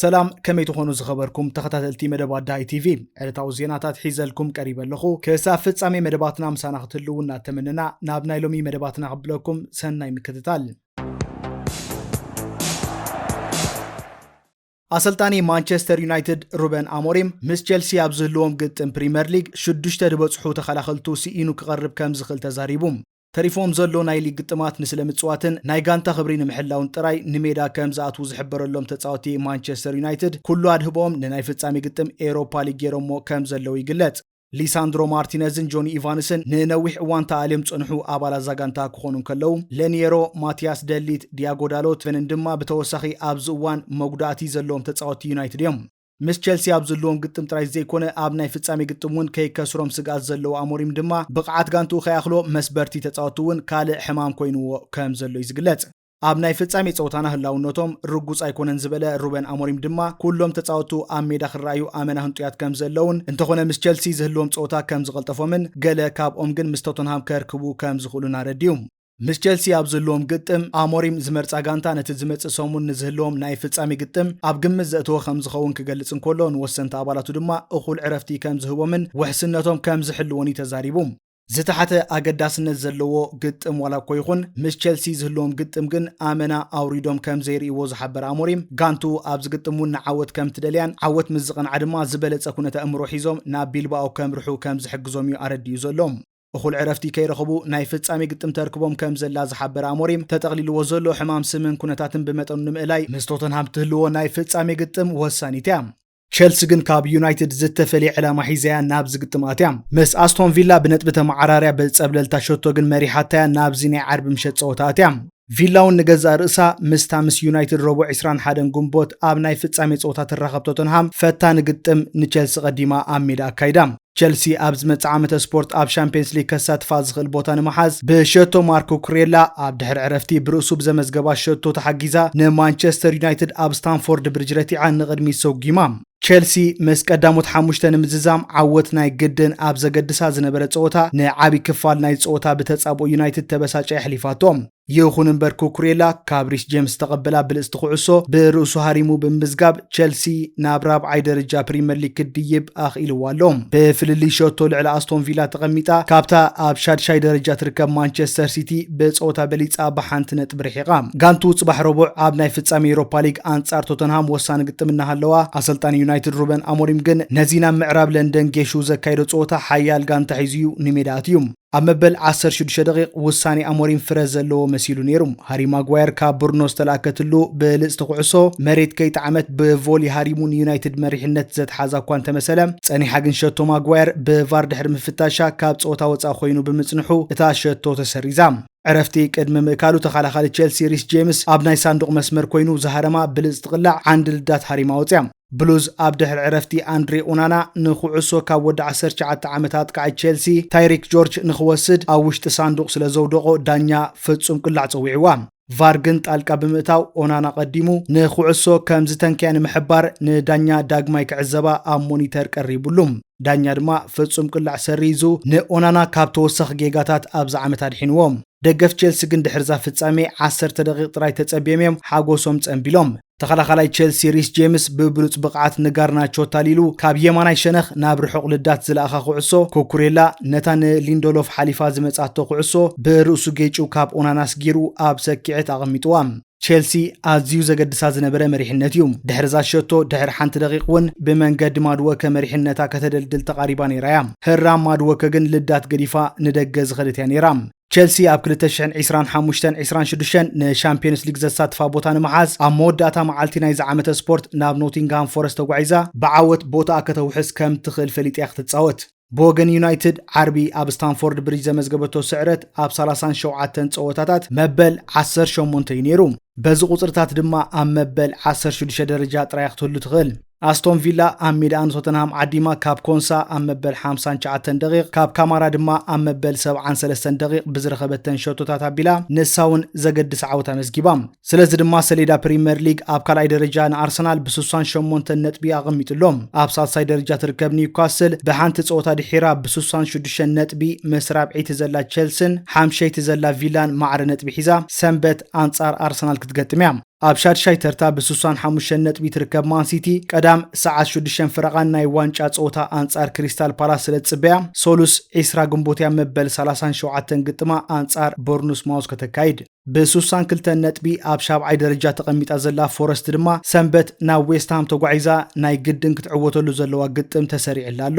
ሰላም ከመይ ትኾኑ ዝኸበርኩም ተኸታተልቲ መደብ ኣዳይ ቲቪ ዕለታዊ ዜናታት ሒዘልኩም ቀሪበ ኣለኹ ክሳብ ፍጻሜ መደባትና ምሳና ክትህልው እናተመነና ናብ ናይ ሎሚ መደባትና ክብለኩም ሰናይ ምክትታል ኣሰልጣኒ ማንቸስተር ዩናይትድ ሩበን ኣሞሪም ምስ ቸልሲ ኣብ ዝህልዎም ግጥም ፕሪምየር ሊግ ሽዱሽተ ዝበጽሑ ተኸላኸልቱ ስኢኑ ክቐርብ ከም ዝኽእል ተዛሪቡ። ተሪፎም ዘሎ ናይ ሊግ ግጥማት ንስለ ምጽዋትን ናይ ጋንታ ክብሪ ንምሕላውን ጥራይ ንሜዳ ከም ዝኣትዉ ዝሕበረሎም ተጻወቲ ማንቸስተር ዩናይትድ፣ ኩሉ ኣድህቦኦም ንናይ ፍጻሜ ግጥም ኤውሮፓ ሊግ ገይሮሞ ከም ዘለዉ ይግለጽ። ሊሳንድሮ ማርቲነዝን ጆኒ ኢቫንስን ንነዊሕ እዋን ተኣልዮም ዝጸንሑ ኣባላት እዛ ጋንታ ክኾኑ እንከለዉ፣ ለንየሮ፣ ማቲያስ ደ ሊት፣ ዲያጎ ዳሎት፣ ቨንን ድማ ብተወሳኺ ኣብዚ እዋን መጉዳእቲ ዘለዎም ተጻወትቲ ዩናይትድ እዮም። ምስ ቸልሲ ኣብ ዝህልዎም ግጥም ጥራይ ዘይኮነ ኣብ ናይ ፍጻሜ ግጥም እውን ከይከስሮም ስግኣት ዘለዎ ኣሞሪም ድማ ብቕዓት ጋንትኡ ከይኣኽሎ መስበርቲ ተጻወትቲ እውን ካልእ ሕማም ኮይንዎ ከምዘሎ'ዩ ዝግለጽ። ኣብ ናይ ፍጻሜ ጸወታና ህላውነቶም ርጉጽ ኣይኮነን ዝበለ ሩበን ኣሞሪም ድማ ኩሎም ተጻወቱ ኣብ ሜዳ ክረኣዩ ኣመና ህንጡያት ከም ዘለዉን እንተኾነ ምስ ቸልሲ ዝህልዎም ጸወታ ከም ዝቐልጠፎምን ገለ ካብኦም ግን ምስ ቶተንሃም ከርክቡ ከም ዝኽእሉን ኣረዲኡ። ምስ ቸልሲ ኣብ ዝህልዎም ግጥም ኣሞሪም ዝመርጻ ጋንታ ነቲ ዝመጽእ ሰሙን ንዝህልዎም ናይ ፍጻሜ ግጥም ኣብ ግምት ዘእተወ ከም ዝኸውን ክገልጽ እንከሎ ንወሰንቲ ኣባላቱ ድማ እኹል ዕረፍቲ ከም ዝህቦምን ውሕስነቶም ከም ዝሕልዎን'ዩ ተዛሪቡ። ዝተሓተ ኣገዳስነት ዘለዎ ግጥም ዋላ እኮ ይኹን ምስ ቸልሲ ዝህልዎም ግጥም ግን ኣመና ኣውሪዶም ከም ዘይርእይዎ ዝሓበረ ኣሞሪም ጋንቱ ኣብዚ ግጥም እውን ንዓወት ከም ትደልያን ዓወት ምስ ዝቐንዓ ድማ ዝበለፀ ኩነት ኣእምሮ ሒዞም ናብ ቢልባኦ ከምርሑ ከም ዝሕግዞም እዩ ኣረዲኡ ዘሎ። እኹል ዕረፍቲ ከይረኸቡ ናይ ፍፃሜ ግጥም ተርክቦም ከም ዘላ ዝሓበረ ኣሞሪም ተጠቕሊልዎ ዘሎ ሕማም ስምን ኩነታትን ብመጠኑ ንምእላይ ምስ ቶተንሃም ትህልዎ ናይ ፍፃሜ ግጥም ወሳኒት እያ። ቸልሲ ግን ካብ ዩናይትድ ዝተፈልየ ዕላማ ሒዛያ ናብዚ ግጥም ኣትያ ምስ ኣስቶን ቪላ ብነጥቢ ተመዓራርያ ብጸብለልታ ሸቶ ግን መሪሓታያ ናብዚ ናይ ዓርቢ ምሸት ጸወታ ኣትያ። ቪላ እውን ንገዛእ ርእሳ ምስታ ምስ ዩናይትድ ረቡዕ ዕስራን ሓደን ግንቦት ኣብ ናይ ፍጻሜ ጸወታ ትራኸብ ቶተንሃም ፈታኒ ግጥም ንቸልሲ ቀዲማ ኣብ ሜዳ ኣካይዳ። ቸልሲ ኣብ ዝመጽእ ዓመተ ስፖርት ኣብ ሻምፕዮንስ ሊግ ከሳትፋ ዝኽእል ቦታ ንምሓዝ ብሸቶ ማርኮ ኩሬላ ኣብ ድሕሪ ዕረፍቲ ብርእሱ ብዘመዝገባ ሸቶ ተሓጊዛ ንማንቸስተር ዩናይትድ ኣብ ስታንፎርድ ብሪጅ ረቲዓ ንቕድሚት ሰጒማ። ቸልሲ ምስ ቀዳሞት ሓሙሽተ ንምዝዛም ዓወት ናይ ግድን ኣብ ዘገድሳ ዝነበረ ጸወታ ንዓብይ ክፋል ናይ ጸወታ ብተጻብኦ ዩናይትድ ተበሳጫ የሕሊፋቶ። ይኹን እምበር ኩኩሬላ ካብ ሪስ ጄምስ ዝተቐበላ ብልጽቲ ኩዕሶ ብርእሱ ሃሪሙ ብምምዝጋብ ቸልሲ ናብ ራብዓይ ደረጃ ፕሪምየር ሊግ ክድይብ ኣኽኢልዎ ኣሎ። ብፍልልይ ሸቶ ልዕሊ ኣስቶን ቪላ ተቐሚጣ ካብታ ኣብ ሻድሻይ ደረጃ ትርከብ ማንቸስተር ሲቲ ብጸወታ በሊጻ ብሓንቲ ነጥቢ ርሒቓ። ጋንቱ ጽባሕ ረቡዕ ኣብ ናይ ፍጻሜ ኤሮፓ ሊግ ኣንጻር ቶተንሃም ወሳኒ ግጥም እናሃለዋ፣ ኣሰልጣኒ ዩናይትድ ሩበን ኣሞሪም ግን ነዚ ናብ ምዕራብ ለንደን ጌሹ ዘካየዶ ጸወታ ሓያል ጋንታ ሒዙ'ዩ ንሜዳ ኣትዩ። ኣብ መበል ዓሰርተ ሽዱሽተ ደቂቕ ውሳኔ ኣሞሪም ፍረ ዘለዎ መሲሉ ነይሩ። ሃሪ ማጓየር ካብ ብሩኖ ዝተላእከትሉ ብልጽቲ ኩዕሶ መሬት ከይጠዓመት ብቮሊ ሃሪሙ ንዩናይትድ መሪሕነት ዘትሓዛ እኳ እንተመሰለ፣ ጸኒሓ ግን ሸቶ ማጓየር ብቫር ድሕሪ ምፍታሻ ካብ ጸወታ ወጻኢ ኮይኑ ብምጽንሑ እታ ሸቶ ተሰሪዛ። ዕረፍቲ ቅድሚ ምእካሉ ተኸላኻሊ ቼልሲ ሪስ ጄምስ ኣብ ናይ ሳንዱቕ መስመር ኮይኑ ዝሃረማ ብልጽቲ ቅላዕ ዓንዲ ልዳት ሃሪማ ወጽያ። ብሉዝ ኣብ ድሕሪ ዕረፍቲ ኣንድሬ ኡናና ንኩዕሶ ካብ ወዲ ዓሰርተ ትሽዓተ ዓመት ኣጥቃዒ ቼልሲ ታይሪክ ጆርጅ ንክወስድ ኣብ ውሽጢ ሳንዱቕ ስለዘውደቖ ዳኛ ፍጹም ቅላዕ ጸዊዕዋ። ቫር ግን ጣልቃ ብምእታው ኦናና ቀዲሙ ንኩዕሶ ከም ዝተንከያ ንምሕባር ንዳኛ ዳግማይ ክዕዘባ ኣብ ሞኒተር ቀሪቡሉ። ዳኛ ድማ ፍጹም ቅላዕ ሰሪዙ ንኦናና ካብ ተወሳኺ ጌጋታት ኣብዚ ዓመት ኣድሒንዎ። ደገፍ ቼልሲ ግን ድሕርዛ ፍጻሜ ዓሰርተ ደቂቕ ጥራይ ተጸብዮም እዮም ሓጎሶም ጸንቢሎም። ተኸላኻላይ ቸልሲ ሪስ ጄምስ ብብሉጽ ብቕዓት ንጋርናቾ ኣታሊሉ ካብ የማናይ ሸነኽ ናብ ርሑቕ ልዳት ዝለኣኻ ኩዕሶ፣ ኩኩሬላ ነታ ንሊንደሎፍ ሓሊፋ ዝመጽኣቶ ኩዕሶ ብርእሱ ጌጭው ካብ ኦናና ኣስጊሩ ኣብ ሰኪዔት ኣቐሚጥዋ። ቸልሲ ኣዝዩ ዘገድሳ ዝነበረ መሪሕነት እዩ። ድሕሪ'ዛ ሸቶ ድሕሪ ሓንቲ ደቒቕ ውን ብመንገዲ ማድወከ መሪሕነታ ከተደልድል ተቓሪባ ነይራ እያ። ህራም ማድወከ ግን ልዳት ገዲፋ ንደገ ዝኸደት እያ ነይራ። ቸልሲ ኣብ ክልተ ሽሕን ዒስራን ሓሙሽተን ዒስራን ሽዱሽተን ንሻምፒዮንስ ሊግ ዘሳትፋ ቦታ ንምሓዝ ኣብ መወዳእታ መዓልቲ ናይዚ ዓመተ ስፖርት ናብ ኖቲንግሃም ፎረስት ተጓዒዛ ብዓወት ቦትኣ ከተውሕስ ከም ትኽእል ፈሊጣ'ያ ክትጻወት። ብወገን ዩናይትድ ዓርቢ ኣብ ስታንፎርድ ብሪጅ ዘመዝገበቶ ስዕረት ኣብ ሰላሳን ሸውዓተን ጸወታታት መበል ዓሰርተ ሸሞንተ እዩ ነይሩ። በዚ ቁጽርታት ድማ ኣብ መበል ዓሰርተ ሽዱሽተ ደረጃ ጥራይ'ያ ክትህሉ ትኽእል። ኣስቶን ቪላ ኣብ ሜዳኣ ንቶተንሃም ዓዲማ ካብ ኮንሳ ኣብ መበል ሓምሳን ትሽዓተን ደቒቕ ካብ ካማራ ድማ ኣብ መበል ሰብዓን ሰለስተን ደቒቕ ብዝረኸበተን ሸቶታት ኣቢላ ንሳ'ውን ዘገድስ ዓወት ኣመዝጊባ። ስለዚ ድማ ሰሌዳ ፕሪመር ሊግ ኣብ ካልኣይ ደረጃ ንኣርሰናል ብስሳን ሸሞንተን ነጥቢ ኣቐሚጡ ኣሎ። ኣብ ሳልሳይ ደረጃ ትርከብ ኒውካስል ብሓንቲ ጸወታ ድሒራ ብስሳን ሽዱሽተን ነጥቢ ምስ ራብዐይቲ ዘላ ቸልሲን ሓምሸይቲ ዘላ ቪላን ማዕረ ነጥቢ ሒዛ ሰንበት ኣንጻር ኣርሰናል ክትገጥም'ያ። ኣብ ሻድሻይ ተርታ ብስሳን ሓሙሽተን ነጥቢ ትርከብ ማንሲቲ ቀዳም ሰዓት ሽዱሽተን ፍረቓን ናይ ዋንጫ ፀወታ ኣንፃር ክሪስታል ፓላስ ስለ ዝፅበያ ሰሉስ ዒስራ ግንቦት እያ መበል ሰላሳን ሸውዓተን ግጥማ ኣንፃር ቦርኑስ ማውዝ ከተካይድ። ብስሳን ክልተን ነጥቢ ኣብ ሻብዓይ ደረጃ ተቐሚጣ ዘላ ፎረስት ድማ ሰንበት ናብ ዌስትሃም ተጓዒዛ ናይ ግድን ክትዕወተሉ ዘለዋ ግጥም ተሰሪዕላ ኣሎ።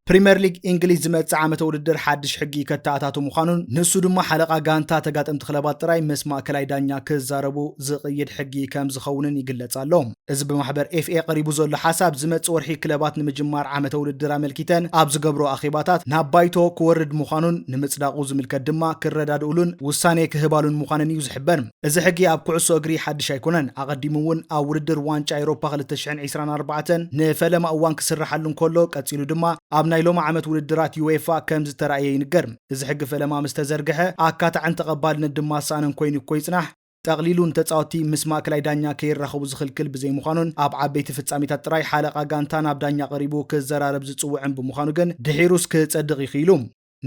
ፕሪምየር ሊግ እንግሊዝ ዝመፅእ ዓመተ ውድድር ሓድሽ ሕጊ ከተኣታቱ ምዃኑን ንሱ ድማ ሓለቓ ጋንታ ተጋጠምቲ ክለባት ጥራይ ምስ ማእከላይ ዳኛ ክዛረቡ ዝቕይድ ሕጊ ከም ዝኸውንን ይግለጽ ኣሎ። እዚ ብማሕበር ኤፍኤ ቀሪቡ ዘሎ ሓሳብ ዝመጽእ ወርሒ ክለባት ንምጅማር ዓመተ ውድድር ኣመልኪተን ኣብ ዝገብርኦ ኣኼባታት ናብ ባይቶ ክወርድ ምዃኑን ንምጽዳቑ ዝምልከት ድማ ክረዳድኡሉን ውሳኔ ክህባሉን ምዃነን እዩ ዝሕበር። እዚ ሕጊ ኣብ ኩዕሶ እግሪ ሓድሽ ኣይኮነን። ኣቐዲሙ እውን ኣብ ውድድር ዋንጫ ኤሮፓ ክልተ ሽሕን ዒስራን ኣርባዕተን ንፈለማ እዋን ክስርሓሉ እንከሎ ቀጺሉ ድማ ኣብ ናይ ሎሚ ዓመት ውድድራት ዩዌፋ ከም ዝተራእየ ይንገር። እዚ ሕጊ ፈለማ ምስ ተዘርግሐ ኣካታዕን ተቐባልነት ድማ ዝሰኣነን ኮይኑ እኮ ይጽናሕ። ጠቕሊሉ ንተጻወትቲ ምስ ማእከላይ ዳኛ ከይራኸቡ ዝኽልክል ብዘይምዃኑን ኣብ ዓበይቲ ፍጻሜታት ጥራይ ሓለቓ ጋንታ ናብ ዳኛ ቀሪቡ ክዘራረብ ዝጽውዕን ብምዃኑ ግን ድሒሩስ ክጸድቕ ይኽኢሉ።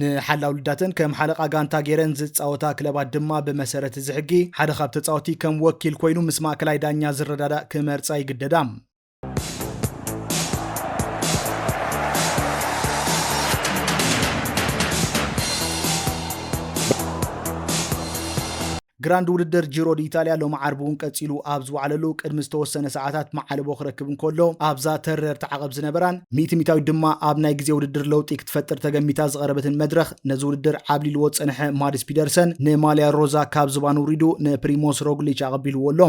ንሓላው ልዳተን ከም ሓለቓ ጋንታ ገይረን ዝጻወታ ክለባት ድማ ብመሰረት እዚ ሕጊ ሓደ ካብ ተጻወትቲ ከም ወኪል ኮይኑ ምስ ማእከላይ ዳኛ ዝረዳዳእ ክመርጻ ይግደዳ። ግራንድ ውድድር ጂሮ ኢታልያ ሎሚ ዓርቢ እውን ቀፂሉ ኣብ ዝወዓለሉ ቅድሚ ዝተወሰነ ሰዓታት መዓለቦ ክረክብ እንከሎ ኣብዛ ተረር ተዓቐብ ዝነበራን ሚእቲ ሚታዊት ድማ ኣብ ናይ ግዜ ውድድር ለውጢ ክትፈጥር ተገሚታ ዝቐረበትን መድረኽ ነዚ ውድድር ዓብሊልዎ ዝፀንሐ ማድስ ፒደርሰን ንማልያ ሮዛ ካብ ዝባን ውሪዱ ንፕሪሞስ ሮግሊች ኣቐቢልዎ ኣሎ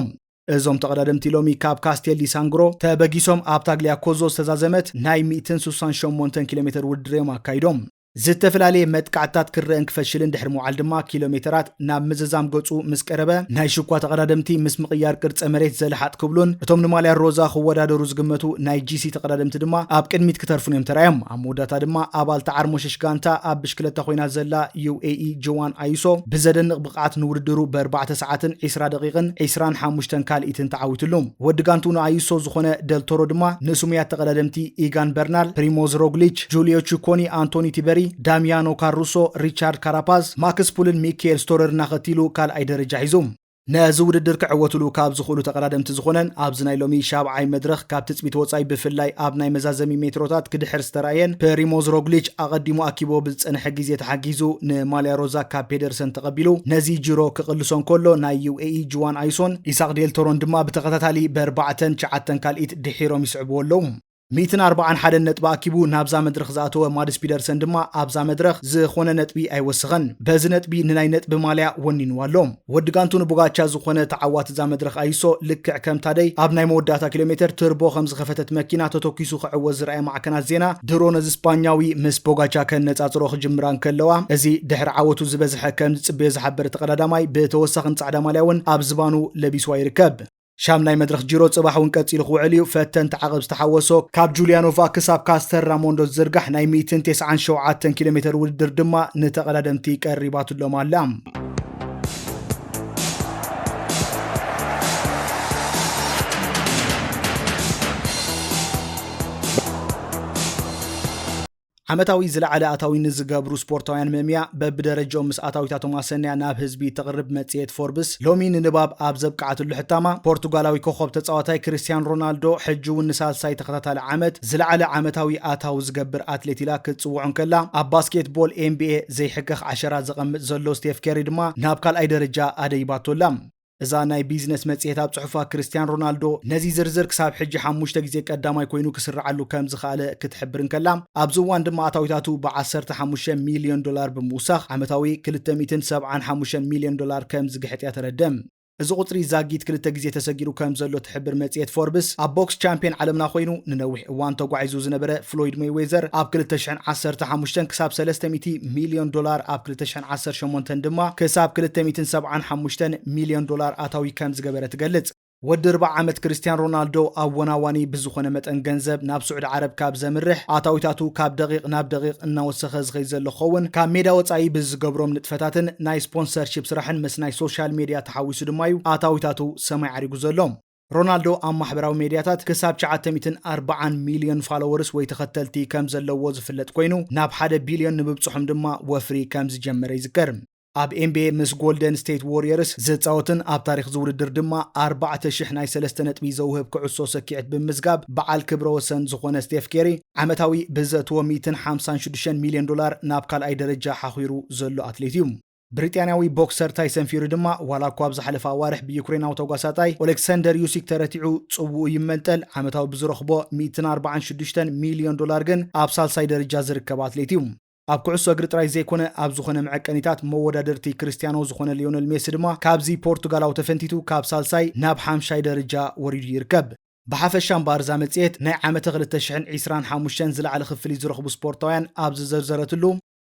እዞም ተቐዳደምቲ ሎሚ ካብ ካስቴል ዲ ሳንግሮ ተበጊሶም ኣብ ታግሊያ ኮዞ ዝተዛዘመት ናይ 168 ኪሎ ሜተር ውድድር እዮም ኣካይዶም። ዝተፈላለየ መጥቃዕትታት ክረእን ክፈሽልን ድሕሪ ምውዓል ድማ ኪሎ ሜተራት ናብ ምዝዛም ገጹ ምስ ቀረበ ናይ ሽኳ ተቐዳደምቲ ምስ ምቕያር ቅርጸ መሬት ዘለሓጥ ክብሉን እቶም ንማልያ ሮዛ ክወዳደሩ ዝግመቱ ናይ ጂሲ ተቐዳደምቲ ድማ ኣብ ቅድሚት ክተርፉን እዮም ተራእዮም። ኣብ መወዳእታ ድማ ኣባል ተዓርሞሸሽ ጋንታ ኣብ ብሽክለታ ኮይና ዘላ ዩኤኢ ጆዋን ኣዩሶ ብዘደንቕ ብቕዓት ንውድድሩ ብእርባዕተ ሰዓትን ዒስራ ደቒቕን ዒስራን ሓሙሽተን ካልኢትን ተዓዊትሉ። ወዲ ጋንትኡ ንኣዩሶ ዝኾነ ደል ቶሮ ድማ ንስሙያት ተቐዳደምቲ ኢጋን በርናል፣ ፕሪሞዝ ሮግሊች፣ ጁልዮ ቺኮኒ፣ ኣንቶኒ ቲበሪ፣ ዳሚያኖ ካሩሶ፣ ሪቻርድ ካራፓዝ፣ ማክስ ፑልን ሚኪኤል ስቶረርን ኣኸቲሉ ካልኣይ ደረጃ ሒዙ። ነዚ ውድድር ክዕወትሉ ካብ ዝኽእሉ ተቐዳደምቲ ዝኾነን ኣብዚ ናይ ሎሚ ሻብዓይ መድረኽ ካብ ትጽቢት ወጻኢ ብፍላይ ኣብ ናይ መዛዘሚ ሜትሮታት ክድሕር ዝተራእየን ፕሪሞዝ ሮግሊች ኣቐዲሙ ኣኪቡዎ ጽንሒ ግዜ ተሓጊዙ ንማልያ ሮዛ ካብ ፔደርሰን ተቐቢሉ ነዚ ጂሮ ክቕልሶ እንከሎ ናይ UAE ጁዋን ኣይሶን ኢሳቕ ዴል ቶሮን ድማ ብተኸታታሊ በርባዕተን ትሽዓተን ካልኢት ድሒሮም ይስዕብዎ ኣለዉ። ሚእትን ኣርባዓን ሓደን ነጥቢ ኣኪቡ ናብዛ መድረኽ ዝኣተወ ማድስ ፒደርሰን ድማ ኣብዛ መድረኽ ዝኾነ ነጥቢ ኣይወሰኸን። በዚ ነጥቢ ንናይ ነጥቢ ማልያ ወኒንዋ ኣሎ። ወዲ ጋንቱ ንቡጋቻ ዝኾነ ተዓዋቲ እዛ መድረኽ ኣይሶ ልክዕ ከም ታደይ ኣብ ናይ መወዳእታ ኪሎሜተር ትርቦ ከም ዝኸፈተት መኪና ተተኲሱ ክዕወት ዝርኣየ ማዕከናት ዜና ድሮ ነዚ ስጳኛዊ ምስ ቦጋቻ ከነጻጽሮ ክጅምራ እንከለዋ እዚ ድሕሪ ዓወቱ ዝበዝሐ ከም ዝጽበዮ ዝሓበረ ተቐዳዳማይ ብተወሳኺ ንጻዕዳ ማልያ እውን ኣብ ዝባኑ ለቢስዋ ይርከብ። ሻምናይ መድረኽ ጂሮ ጽባሕ እውን ቀጺሉ ክውዕል እዩ። ፈተንቲ ዓቐብ ዝተሓወሶ ካብ ጁልያኖቫ ክሳብ ካስተር ራሞንዶ ዝዝርጋሕ ናይ ሚእትን ቴስዓን ሸውዓተን ኪሎ ሜተር ውድድር ድማ ንተቐዳደምቲ ቀሪባትሎም ኣላ። ዓመታዊ ዝለዓለ ኣታዊ ንዝገብሩ ስፖርታውያን መምያ በብደረጅኦም ምስ ኣታዊታቶም ኣሰንያ ናብ ህዝቢ ተቕርብ መጽሔት ፎርብስ ሎሚ ንንባብ ኣብ ዘብቅዓትሉ ሕታማ ፖርቱጋላዊ ኮኾብ ተጻዋታይ ክርስትያን ሮናልዶ ሕጂ እውን ንሳልሳይ ተኸታታሊ ዓመት ዝለዓለ ዓመታዊ ኣታዊ ዝገብር ኣትሌት ኢላ ክትጽውዖ እንከላ ኣብ ባስኬትቦል ኤንቢኤ ዘይሕከኽ ዓሸራ ዘቐምጥ ዘሎ ስቴፍ ኬሪ ድማ ናብ ካልኣይ ደረጃ ኣደይባቶ ኣላ። እዛ ናይ ቢዝነስ መጽሔት ኣብ ጽሑፋ ክርስትያን ሮናልዶ ነዚ ዝርዝር ክሳብ ሕጂ ሓሙሽተ ግዜ ቀዳማይ ኮይኑ ክስርዓሉ ከም ዝኸኣለ ክትሕብር እንከላ ኣብዚ እዋን ድማ ኣታዊታቱ ብ ዓሰርተ ሓሙሽተ ሚልዮን ዶላር ብምውሳኽ ዓመታዊ ክልተ ሚእትን ሰብዓን ሓሙሽተን ሚልዮን ዶላር ከም ዝግሕጥ እያ ተረደ። እዚ ቁጽሪ ዛጊት ክልተ ግዜ ተሰጊሩ ከም ዘሎ ትሕብር መጽሔት ፎርብስ፣ ኣብ ቦክስ ቻምፕየን ዓለምና ኮይኑ ንነዊሕ እዋን ተጓዒዙ ዝነበረ ፍሎይድ መይዌዘር ኣብ ክልተ ሽሕን ዓሰርተ ሓሙሽተን ክሳብ ሰለስተ ሚእቲ ሚልዮን ዶላር ኣብ ክልተ ሚእትን ዓሰርተ ሸሞንተን ድማ ክሳብ ክልተ ሚእትን ሰብዓን ሓሙሽተን ሚልዮን ዶላር ኣታዊ ከም ዝገበረ ትገልጽ። ወዲ ኣርብዓ ዓመት ክርስትያን ሮናልዶ ኣወናዋኒ ብዝኾነ መጠን ገንዘብ ናብ ስዑዲ ዓረብ ካብ ዘምርሕ፣ ኣታዊታቱ ካብ ደቒቕ ናብ ደቒቕ እናወሰኸ ዝኸይድ ዘሎ ክኸውን ካብ ሜዳ ወጻኢ ብዝገብሮም ንጥፈታትን ናይ ስፖንሰርሺፕ ስራሕን ምስ ናይ ሶሻል ሜድያ ተሓዊሱ ድማ'ዩ ኣታዊታቱ ሰማይ ዓሪጉ ዘሎ። ሮናልዶ ኣብ ማሕበራዊ ሜድያታት ክሳብ ትሽዓተ ሚእትን ኣርብዓን ሚልዮን ፋሎወርስ ወይ ተኸተልቲ ከም ዘለዎ ዝፍለጥ ኮይኑ፣ ናብ ሓደ ቢልዮን ንምብጽሖም ድማ ወፍሪ ከም ዝጀመረ ይዝከር። ኣብ ኤንቢኤ ምስ ጎልደን ስቴት ዎርየርስ ዝጻወትን ኣብ ታሪኽ እዚ ውድድር ድማ ኣርባዕተ ሽሕ ናይ ሰለስተ ነጥቢ ዘውህብ ክዕሶ ሰኪዔት ብምምዝጋብ በዓል ክብረ ወሰን ዝኾነ ስቴፍ ኬሪ፣ ዓመታዊ ብዘእትዎ ሚእትን ሓምሳን ሽዱሽተን ሚልዮን ዶላር ናብ ካልኣይ ደረጃ ሓዂሩ ዘሎ ኣትሌት እዩ። ብሪጣንያዊ ቦክሰር ታይሰን ፊዩሪ ድማ ዋላ እኳ ኣብ ዝሓለፈ ኣዋርሕ ብዩክሬናዊ ተጓሳጣይ ኦሌክሰንደር ዩሲክ ተረቲዑ ጽውኡ ይመንጠል፣ ዓመታዊ ብዝረኽቦ ሚእትን ኣርባዓን ሽዱሽተን ሚልዮን ዶላር ግን ኣብ ሳልሳይ ደርጃ ዝርከብ ኣትሌት እዩ። ኣብ ኩዕሶ እግሪ ጥራይ ዘይኮነ ኣብ ዝኾነ መዐቀኒታት መወዳድርቲ ክርስትያኖ ዝኾነ ሊዮነል ሜሲ ድማ ካብዚ ፖርቱጋላዊ ተፈንቲቱ ካብ ሳልሳይ ናብ ሓምሻይ ደርጃ ወሪዱ ይርከብ። ብሓፈሻ እምበኣር እዛ መጽሔት ናይ ዓመተ ክልተ ሽሕን ዒስራን ሓሙሽተን ዝለዓለ ክፍሊት ዝረኽቡ ስፖርታውያን ኣብ ዝዘርዘረትሉ፣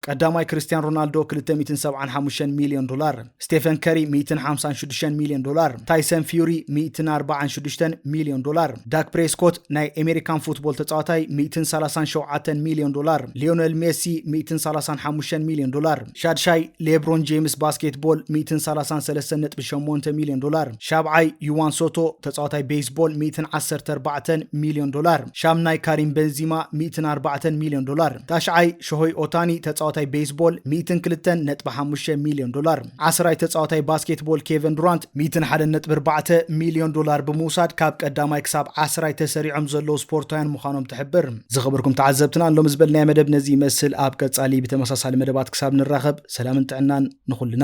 ቀዳማይ ክርስትያን ሮናልዶ ክልተ ሚእትን ሰብዓን ሓሙሽተን ሚልዮን ዶላር፣ ስቴፈን ከሪ ሚእትን ሓምሳን ሽዱሽተን ሚልዮን ዶላር፣ ታይሰን ፍዩሪ ሚእትን ኣርባዓን ሽዱሽተን ሚልዮን ዶላር፣ ዳክ ፕሬስኮት ናይ ኤሜሪካን ፉትቦል ተጻዋታይ ሚእትን ሰላሳን ሸውዓተን ሚልዮን ዶላር፣ ሊዮነል ሜሲ ሚእትን ሰላሳን ሓሙሽተን ሚልዮን ዶላር፣ ሻድሻይ ሌብሮን ጄምስ ባስኬትቦል ሚእትን ሰላሳን ሰለስተን ነጥቢ ሸሞንተ ሚልዮን ዶላር፣ ሻብዓይ ዩዋን ሶቶ ተጻዋታይ ቤይስቦል ሚእትን ዓሰርተ ኣርባዕተን ሚልዮን ዶላር፣ ሻምናይ ካሪም በንዚማ ሚእትን ኣርባዕተን ሚልዮን ዶላር፣ ታሽዓይ ሾሆይ ኦታኒ፣ ተጻዋታይ ቤይስቦል፣ ሚእትን ክልተን ነጥቢ ሓሙሽተ ሚልዮን ዶላር። ዓስራይ ተጻዋታይ ባስኬትቦል ኬቨን ዱራንት፣ ሚእትን ሓደን ነጥቢ ኣርባዕተ ሚልዮን ዶላር ብምውሳድ ካብ ቀዳማይ ክሳብ ዓስራይ ተሰሪዖም ዘለዉ ስፖርታውያን ምዃኖም ትሕብር። ዝኸበርኩም ተዓዘብትና ሎሚ ዝበልናዮ መደብ ነዚ ይመስል ኣብ ቀጻሊ ብተመሳሳሊ መደባት ክሳብ ንራኸብ ሰላምን ጥዕናን ንኹልና።